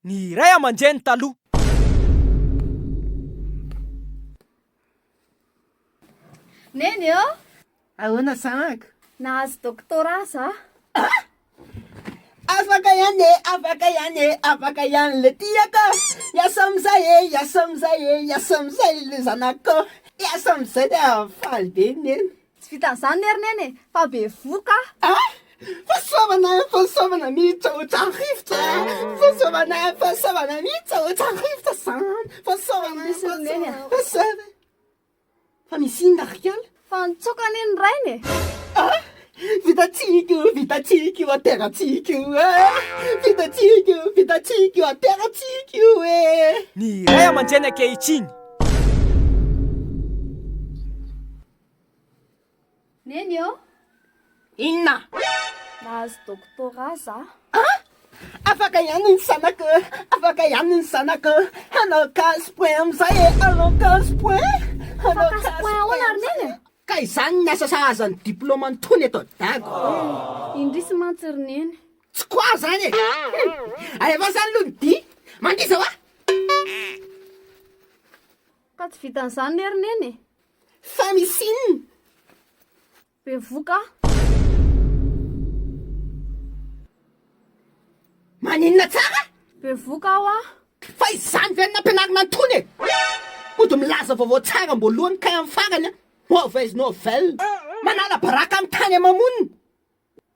ny ray aman-dreny taloha. Neny ô! Ahoana zanaka? Nahazo doctorat za. Afaka ihany e, afaka ihany e, afaka ihany le tiako a! Hiasa amin'izay e, hiasa amin'izay e, hiasa amin'izay le zanakoo! Hiasa amin'izay dia faly be neny. Tsy vitan'izany lery neny e, fa bevoka a! Ah! Fahasoavana, fahasoavana miditra ao an-trano-rivotra a! Fahasoavana, fahasoavana miditra ao an-trano-rivotra izany! Fahasoavana, fahasoavana, fahasoavana! Fa misy inona ry Rikala? Fa nitsoaka anie ny rainy e! Ah! Vitantsika io, vitantsika io, aterantsika io e! Vitantsika io, vitantsika io, aterantsika io e! Ny ray aman-dreny ankehitriny. Neny ô! Inona? Nahazo doctorat za. Ah! Afaka ihany ny zanako e! Afaka ihany ny zanako e! Hanao casse point amin'izay e! Hanao casse point! Hanao casse point! Casse point ahoana ry Neny e? Ka izany ny asa sahaza ny diplôme an'itony eto Dago. Eh! Indrisy mantsy ry Neny. Tsy quoi izany e! Hum! Alevao izany aloha ny dihy! Mandiza hoa! Ka tsy vitan'izany ne ry Neny e! Fa misy inona? Bevoka. Maninona tsara? Bevoka aho an. Fa izany ve no nampianarina an'tony e? Mody milaza vaovao tsara amboalohany kay amin'ny farany an! Mauvaise nouvelle! Manala baraka amin'ny tany aman-monina!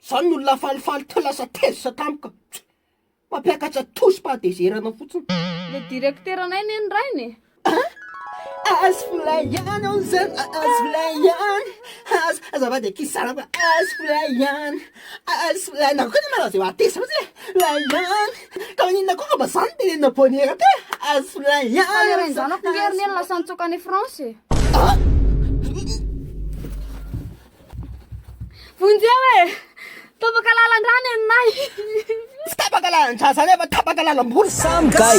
Zany no olona falifaly te lasa tezitra tampoka. Mampiakatra tosy pahatezerana fotsiny. Le directeranay ne ny rainy e. Ah azy fly ihany aho zany ah azy fly ihany azy azafady akia salama azy fly ihany ah azy fly nareo koa ne malaza eo ateza fotsiny e fly ihany ka maninona koa fa mba za no tenenina bonera teo e azy fly ihany Fa le rain-janako nge ry neny lasa nitsoaka any France e. Vonjeo e! Tapaka lalan-drano ianay! Tsy tapaka lalan-drano zany fa tapaka lalam-bola! Samy gay!